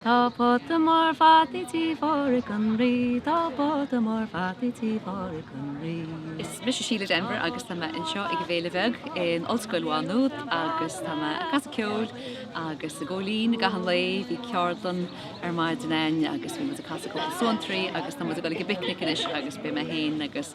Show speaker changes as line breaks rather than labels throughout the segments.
Tá pota mór fataí tí Phádraig an Rí, tá pota mór fataí tí Phádraig an Rí. Is mise Síle
Denvir agus tá mé anseo ag an bhféile bheag in Ollscoil Mhá Nuad agus tá mé ag casadh ceoil agus ag gabháil fhoinn i gcaitheamh an lae. Bhí ceardlann ar maidin againn agus bhí muid ag casadh cúpla suantraí agus tá muid ag dul ag an bpicnic anois agus beidh mé féin agus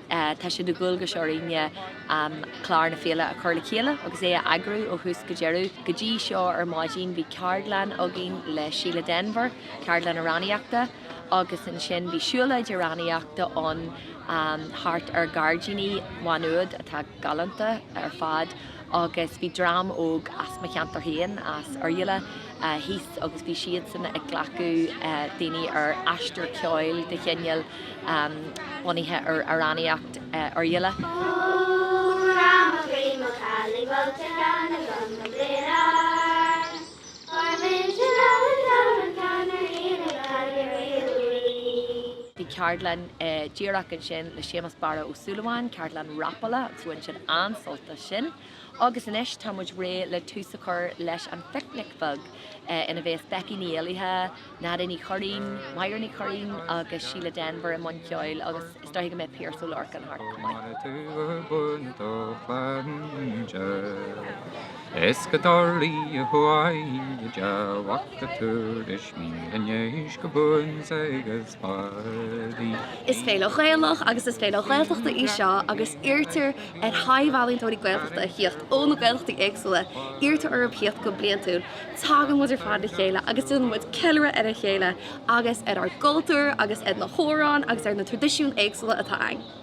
Tá sé de dhualgas orainne clár na féile a chur le chéile agus é a eagrú ó thús go deireadh. Go dtí seo ar maidin bhí ceardlann againn le Síle Denvir, ceardlann amhránaíochta, agus ansin bhí siúlóid amhránaíochta ann thart ar ghairdíní Mhá Nuad atá galánta ar fad agus bhí dream óg as mo cheantar féin, as Oirialla, thíos agus bhí siadsan ag glacadh daoine ar aistear ceoil de chineál bunaithe ar amhránaíocht Oirialla. Bhí ceardlann díreach ansin le Séamus Barra Ó Súilleabháin, ceardlann rapála agus bhain siad an-sult as sin. Agus anois tá muid réidh le tús a chur leis an Phicnic Bheag ina bheas Becky Ní Éallaithe, Nadia Ní Churraoin, Máire Ní Churraoin agus Síle Denvir i mbun ceoil agus is dóigh go mbeidh Piaras Ó Lorcáin thart chomh maith. Mar a tugadh bun do
phainde Is go dtarlaíodh uainn go dearfach Go dtabharfadh mian an dhéis go buan-sa go spadhraí. Is féile
Ghaelach agus is féile Ghaeltachta í seo agus iarrtar ar thaibh-ealaíontóirí Gaeltachta a thíocht ó na Gaeltachtaí éagsúla, iarrtar orthu thíocht go bliantúil. Tagann muid ar fad le chéile agus déanann muid ceiliúradh ar a chéile agus ar ár gcultúr agus ar na hamhráin agus ar na traidisiúin éagsúla atá againn.